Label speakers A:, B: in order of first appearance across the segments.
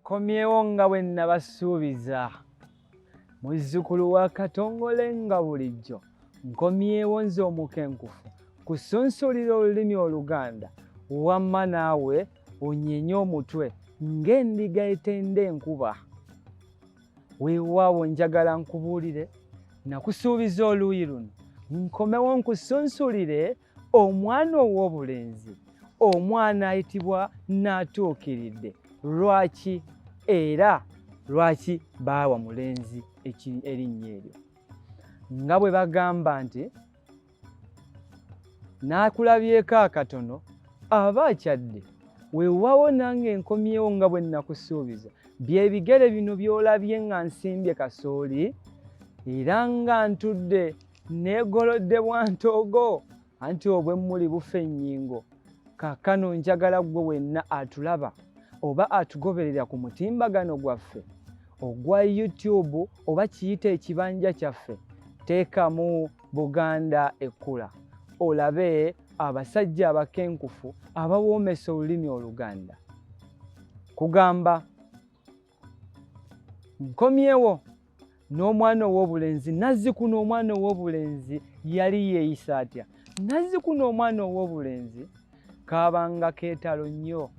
A: Komyewo nga bwe nnabasuubiza, muzzukulu wa Katongole nga bulijjo, nkomyewo nze omukenkufu kusunsulira olulimi Oluganda, wamma naawe onyenye omutwe ng'endiga etenda enkuba. Weewaawo njagala nkubuulire, nakusuubiza oluuyi luno, nkomewo nkusunsulire omwana ow'obulenzi omwana ayitibwa naatuukiridde lwaki era lwaki baawa mulenzi erinnya eryo nga bwe bagamba nti n'akulabyeko akatono aba akyadde weewaawo nange nkomyewo nga bwe nnakusuubiza byebigere bino by'olabye nga nsimbye kasooli era nga ntudde neegolodde bwa ntoogo anti obwemmuli bufa ennyingo kaakano njagala ggwe wenna atulaba oba atugoberera ku mutimbagano gwaffe ogwa youtube oba kiyita ekibanja kyaffe teekamu buganda ekkula olabe abasajja abakenkufu abawoomesa olulimi oluganda kugamba nkomyewo n'omwana ow'obulenzi nazzikuno omwana ow'obulenzi yali yeeyisa atya nazzikuno omwana ow'obulenzi kaabanga keetalo nnyo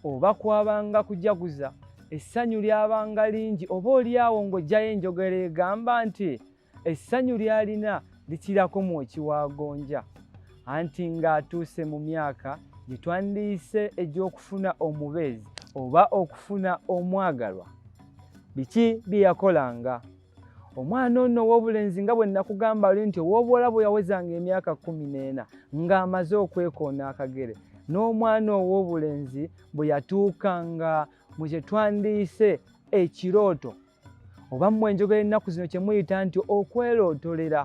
A: oba kwabanga kujaguza essanyu lyabanga lingi oba oli awo ng'ojjayo enjogera egamba nti Essanyu ly'alina likirako mu ekiwagonja anti ng'atuuse mu myaka gye twandiyise egy'okufuna omubeezi oba okufuna omwagalwa. Biki bye yakolanga? omwana ono ow'obulenzi nga bwe nakugamba oli nti ow'obuwala bwe yawezanga emyaka kkumi n'ena ng'amaze okwekoona akagere n'omwana ow'obulenzi bwe yatuukanga mu kye twandiyise ekirooto oba mmwe enjogera ennaku zino kye muyita nti okwelootolera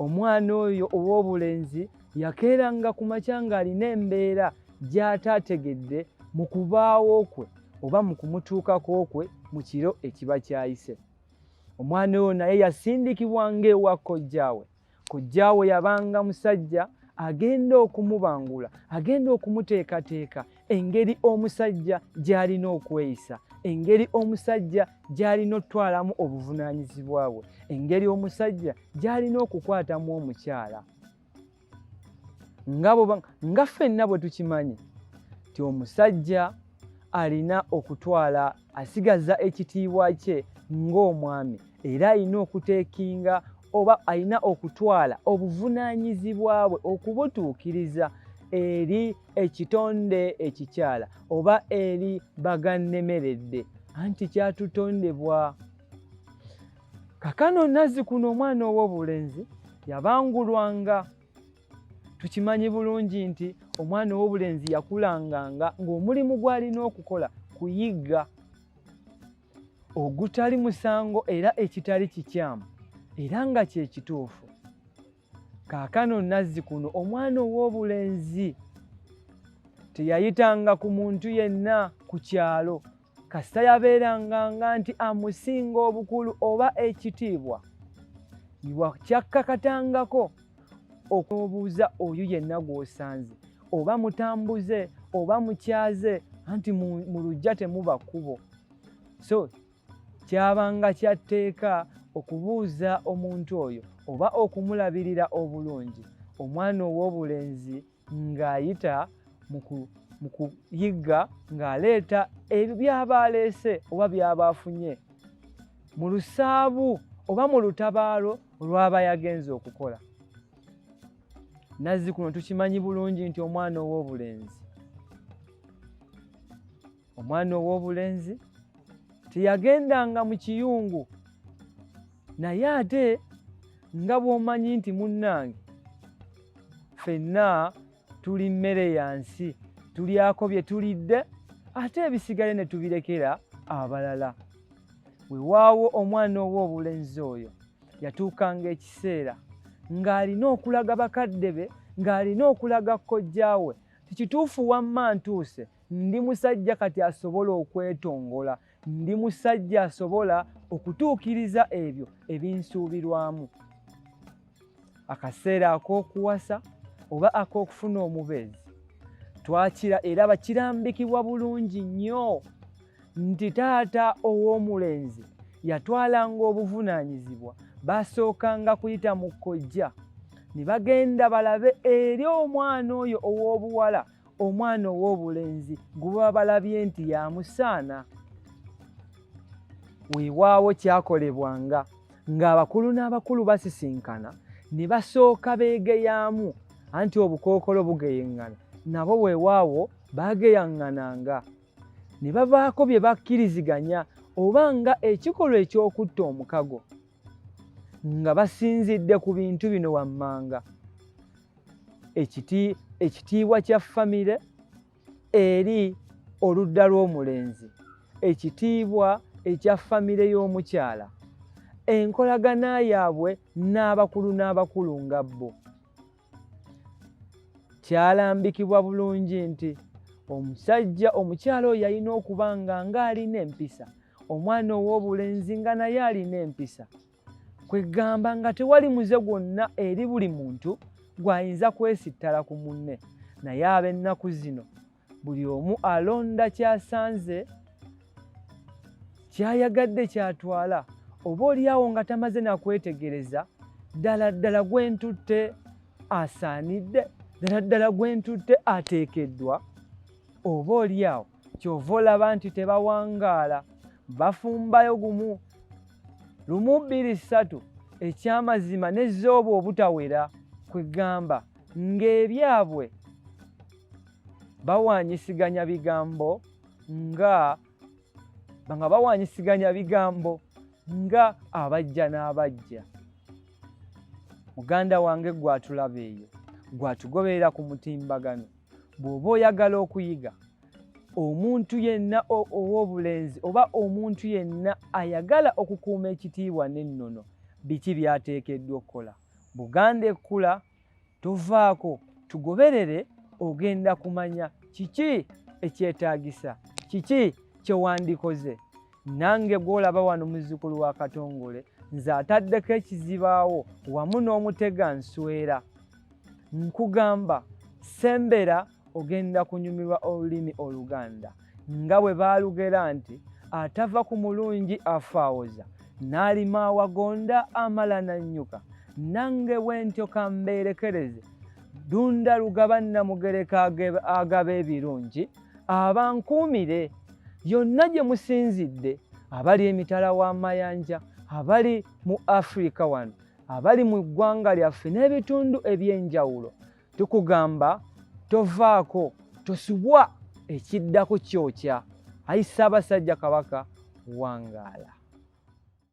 A: omwana oyo ow'obulenzi yakeeranga ku makya ng'alina embeera gy'ataategedde mu kubaawo kwe oba mu kumutuukako kwe mu kiro ekiba kyayise omwana oyo naye yasindikibwanga ewa kojjaawe Kojjaawo yabanga musajja agenda okumubangula, agenda okumuteekateeka engeri omusajja gy'alina okweyisa, engeri omusajja gy'alina okutwalamu obuvunaanyizibwa bwe, engeri omusajja gy'alina okukwatamu omukyala. Nga ffenna bwe tukimanyi nti omusajja alina okutwala asigaza ekitiibwa kye ng'omwami era alina okuteekinga oba alina okutwala obuvunaanyizibwa bwe okubutuukiriza eri ekitonde ekikyala oba eri bagannemeredde anti kyatutondebwa kakano nazzikuno omwana ow'obulenzi yabangulwanga tukimanyi bulungi nti omwana ow'obulenzi yakulanganga ng'omulimu gw'alina okukola kuyigga ogutali musango era ekitali kikyamu era nga kye kituufu kaakano nazzi kuno omwana ow'obulenzi teyayitanga ku muntu yenna ku kyalo kasita yabeeranga nga nti amusinga obukulu oba ekitiibwa kyakkakatangako okubuuza oyo yenna gw'osanze oba mutambuze oba mukyaze anti mu lujja temuba kkubo so kyabanga kyatteeka okubuuza omuntu oyo oba okumulabirira obulungi omwana ow'obulenzi ng'ayita mu kuyigga ng'aleeta ebyo by'aba aleese oba by'aba afunye mu lusaabu oba mu lutabaalo olw'aba yagenze okukola nazzi kuno tukimanyi bulungi nti omwana ow'obulenzi omwana ow'obulenzi teyagendanga mu kiyungu naye ate nga bw'omanyi nti munnange ffenna tuli mmere ya nsi tulyako bye tulidde ate ebisigale ne tubirekera abalala wewaawo omwana ow'obulenzi oyo yatuukanga ekiseera ng'alina okulaga bakadde be ng'alina okulaga kkojjaawe tikituufu wamma ntuuse Ndi musajja kati asobola okwetongola. Ndi musajja asobola okutuukiriza ebyo ebinsuubirwamu. Akaseera ak'okuwasa oba ak'okufuna omubeezi twakira era bakirambikibwa bulungi nnyo nti taata ow'omulenzi yatwalanga obuvunaanyizibwa baasookanga kuyita mu kojja ne bagenda balabe eri omwana oyo ow'obuwala omwana ow'obulenzi gwe baba balabye nti yamusaana weewaawo kyakolebwanga ng'abakulu n'abakulu basisinkana ne basooka beegeyaamu anti obukookolo bugeyeŋŋana nabo weewaawo baageyaŋŋananga ne bavaako bye bakkiriziganya oba nga ekikolwa eky'okutta omukago nga basinzidde ku bintu bino wammanga ekitiibwa kya famire eri oludda lw'omulenzi ekitiibwa ekya famire y'omukyala enkolagana yaabwe n'abakulu n'abakulu nga bo kyalambikibwa bulungi nti omusajja omukyala oyo yalina okuba nga ng'alina empisa omwana ow'obulenzi nga naye alina empisa kwegamba nga tewali muze gwonna eri buli muntu gw'ayinza kwesittala ku munne naye ab'ennaku zino buli omu alonda kyasanze kyayagadde kyatwala oba olyawo nga tamaze nakwetegereza ddala ddala gwentutte asaanidde ddala ddala gwentutte ateekeddwa oba olyawo kyova olaba nti tebawangaala bafumbayo gumu lumu bbiri ssatu ekyamazima nezooba obutawera kwegamba ng'ebyabwe bawanyisiganya bigambo nga nga bawanyisiganya bigambo nga abajja n'abajja muganda wange gwatulaba eyo gwatugoberera ku mutimbagano bw'oba oyagala okuyiga omuntu yenna ow'obulenzi oba omuntu yenna ayagala okukuuma ekitiibwa n'ennono biki by'ateekeddwa okukola buganda ekkula tovaako tugoberere ogenda kumanya kiki ekyetaagisa kiki kyewandikoze nange gwolaba wano muzzukulu wa katongole nze ataddeko ekizibaawo wamu n'omutega nswera nkugamba sembera ogenda kunyumirwa olulimi oluganda nga bwe baalugera nti atava ku mulungi afaawoza n'alima awagonda amala nannyuka nange bwentyo kambeerekereze dunda lugaba nnamugereka agaba ebirungi abankuumire yonna gye musinzidde abali emitala w'amayanja abali mu afirika wano abali mu ggwanga lyaffe n'ebitundu eby'enjawulo Tukugamba tovaako tosubwa ekiddako kyokya. Ayi Ssaabasajja Kabaka wangaala.